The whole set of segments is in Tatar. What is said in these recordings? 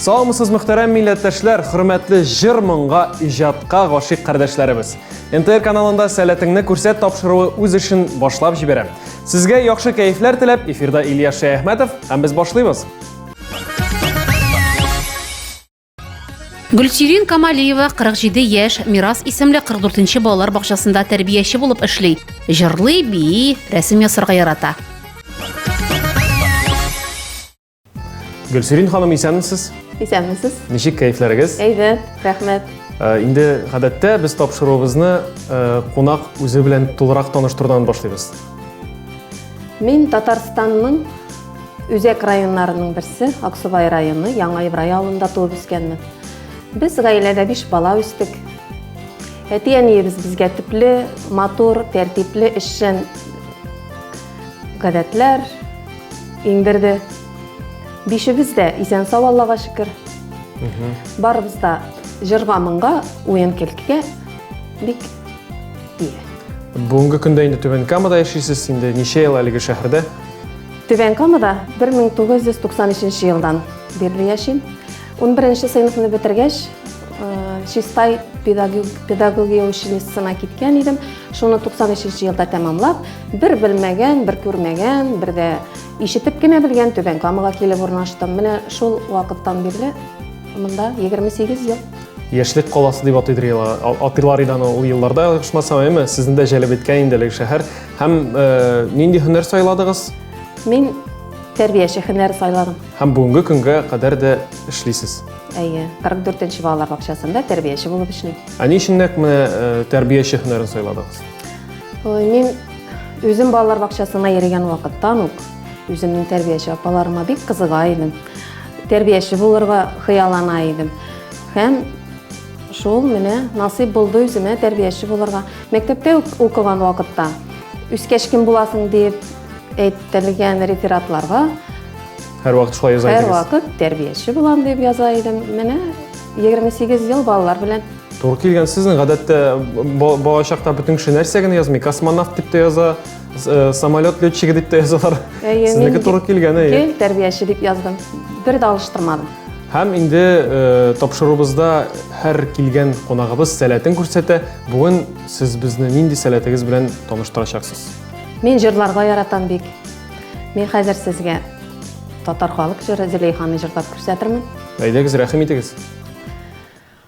Саламсыз мөхтәрәм милләттәшләр, хөрмәтле җыр моңга, иҗатка гашыйк кардәшләребез. НТР каналында сәләтеңне күрсәт тапшыруы үз эшен башлап җибәрә. Сезгә яхшы кәефләр теләп, эфирда Илья Шәяхмәтов һәм без башлыйбыз. Гөлсирин Камалиева 47 яшь, Мирас исемле 44-нче балалар бакчасында тәрбияче булып эшли. Җырлый, бии, рәсем ясарга ярата. Гөлсирин ханым, исәнмесез? Исәнмесез. Ничек кәефләрегез? Әйбәт, рәхмәт. Э, инде гадәттә без тапшыруыбызны э, кунак үзе белән тулырак таныштырудан башлыйбыз. Мин Татарстанның Үзәк районнарының берсе, Аксубай районы, Яңа Ибрай авылында туып үскәнмен. Без гаиләдә биш бала үстек. Әти-әниебез безгә төпле, матур, тәртипле, эшчән гадәтләр иңдерде. Бишебез дә исән сау Аллага шөкер. Барыбыз да җырга-моңга, уен-көлкегә бик Бүгенге көндә инде Түбән Камада яшисез, инде ничә ел әлеге шәһәрдә? Түбән Камада 1993 елдан бирле яшим. 11 сыйныфны бетергәч, Чистай педагогия училищесына киткән идем. Шуны 93 елда тәмамлап, бер белмәгән, бер күрмәгән, бер дә ишетеп кенә белгән Түбән Камага килеп урнаштым. Менә шул вакыттан бирле монда 28 ел. Яшьлек каласы дип атыйдыр елга. Атыйлар иде аны ул елларда, ошмасам, әйме, сезне дә җәлеп иткән инде әлеге шәһәр. Һәм э, нинди һөнәр сайладыгыз? Мин тәрбияче һөнәр сайладым. Һәм бүгенге көнгә кадәр дә эшлисез. Әйе, 44-нче балалар бакчасында тәрбияче булып эшлим. Ә ни өчен нәкъ менә э, тәрбияче һөнәрен сайладыгыз? Ой, мин үзем балалар бакчасына йөргән вакыттан ук үземнең тәрбияче апаларыма бик кызыга идем. Тәрбияче булырга хыяллана идем. Һәм шул менә насыйп булды үземә тәрбияче булырга. Мәктәптә укыган вакытта үскәч кем буласың дип әйтелгән рефератларга һәр вакыт шулай яза идегез. Һәр вакыт тәрбияче булам дип яза идем. Менә 28 ел балалар белән Тур килгән сезнең гадәттә балачакта бөтен кеше нәрсә генә язмый, космонавт дип тә яза, Э, самолет летчигы дип тә язалар сезнеке туры килгән әйе гел тәрбияче дип яздым бер дә алыштырмадым һәм инде э, тапшыруыбызда һәр килгән кунагыбыз сәләтен күрсәтә бүген сез безне нинди сәләтегез белән таныштырачаксыз мин җырларга яратам бик мин хәзер сезгә татар халык җыры зөләйханы җырлап күрсәтермен әйдәгез рәхим итегез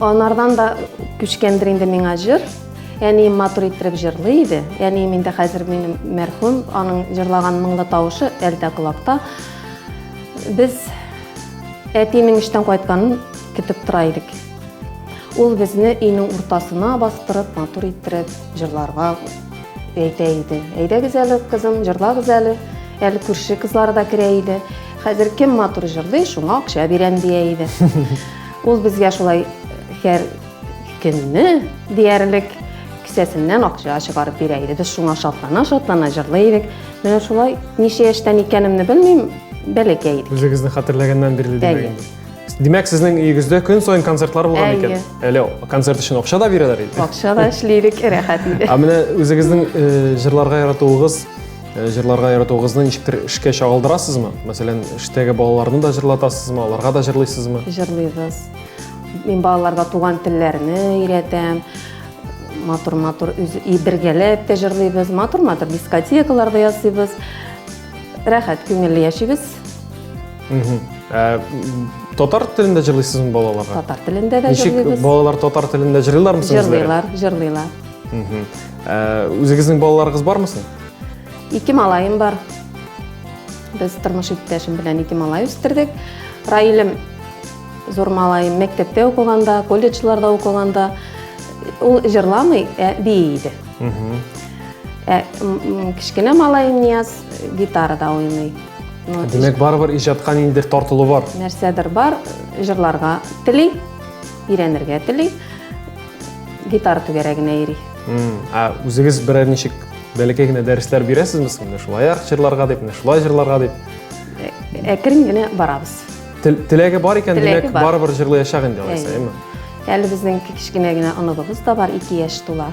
Анардан да күчкәндер инде миңа җыр. Әни матур иттереп җырлый иде. Әни миндә хәзер минем мәрхүм, аның җырлаган моңлы тавышы әлдә колакта. Без әтинең эштән кайтканын көтеп тора идек. Ул безне өйнең уртасына бастырып, матур иттереп җырларга әйтә иде. Әйдәгез әле, кызым, җырлагыз әле. Әле күрше кызлары да керә иде. Хәзер кем матур җырлый, шуңа акча бирәм дия иде. Ул безгә шулай һәр көнне диярлек кесәсеннән акча чыгарып бирә иде. Без шуңа шатлана-шатлана җырлый идек. Менә шулай ничә яшьтән икәнемне белмим, бәләкәй идек. Үзегезне хәтерләгәннән бирле димәк инде. Димәк, сезнең өегездә көн саен концертлар булган икән. Әле концерт өчен акча да бирәләр иде. Акча да эшлидек, рәхәт иде. Ә менә үзегезнең җырларга яратуыгыз Э, җырларга яратуыгызны ничектер эшкә чагылдырасызмы? Мәсәлән, эштәге балаларны да җырлатасызмы, аларга да җырлыйсызмы? Җырлыйбыз. Мин балаларга туган телләрне өйрәтәм. Матур-матур и бергәләп тә җырлыйбыз. Матур-матур дискотекаларда ясыйбыз. Рәхәт, күңелле яшибез. Э, татар телендә җырлыйсызмы балаларга? Татар телендә дә җырлыйбыз. Ничек балалар татар телендә җырлыйлармы? Җырлыйлар, җырлыйлар. Үзегезнең балаларыгыз бармы соң? Ике малаем бар. Без тормыш иптәшем белән ике малай үстердек. Раилем зур малаем мәктәптә укыганда, колледжларда укыганда ул җырламый, ә бии иде. Ә кечкенә малаем Нияз гитарада уйный. Димәк, барыбер иҗатка ниндидер тартылу бар. Нәрсәдер бар, җырларга тели, өйрәнергә тели. Гитара түгәрәгенә йөри. Ә үзегез берәр ничек бәләкәй генә дәресләр бирәсезме соң? Менә шулай як җырларга дип, менә шулай җырларга дип. Әкрен генә барабыз. Теләге бар икән, димәк, барыбер җырлаячак инде алайса, әйме? Әле безнең кечкенә генә оныбыз да бар, ике яшь тула.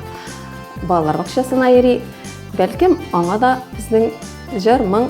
Балалар бакчасына йөри. Бәлкем, аңа да безнең җыр, моң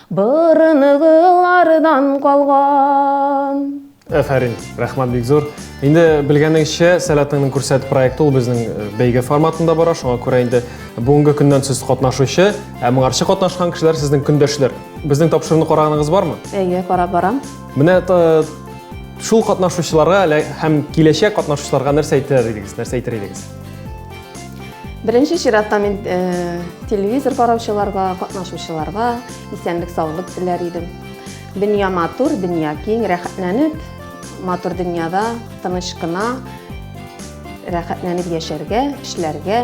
Борыныгылардан калган. Әфәрин, рәхмәт бик зур. Инде белгәнегезчә, Сәләтеңнең күрсәт проекты ул безнең э, бәйге форматында бара, шуңа күрә инде бүгенге көннән сез катнашучы, ә моңарчы катнашкан кешеләр сезнең көндәшләр. Безнең тапшыруны караганыгыз бармы? Әйе, карап барам. Менә э, шул катнашучыларга һәм киләчәк катнашучыларга нәрсә әйтер идегез? Нәрсә әйтер идегез? Беренче чиратта мин э, телевизор караучыларга, катнашучыларга исәнлек саулык теләр идем. Дөнья матур, дөнья киң, рәхәтләнеп, матур дөньяда тыныч кына рәхәтләнеп яшәргә, эшләргә,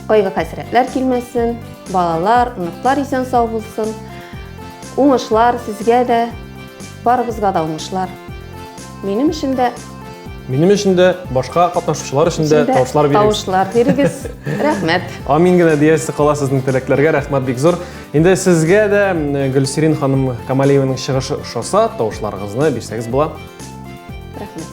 кайгы хәсрәтләр килмәсен, балалар, оныклар исән сау булсын. Уңышлар сезгә дә, барыбызга да уңышлар. Минем өчен дә Минем өчен дә, башка катнашучылар өчен дә тавышлар бирегез. Тавышлар бирегез. Рәхмәт. Амин генә диясе кала сезнең теләкләргә. Рәхмәт бик зур. Инде сезгә дә Гөлсирин ханым Камалиеваның чыгышы ошаса, тавышларыгызны бирсәгез була. Рәхмәт.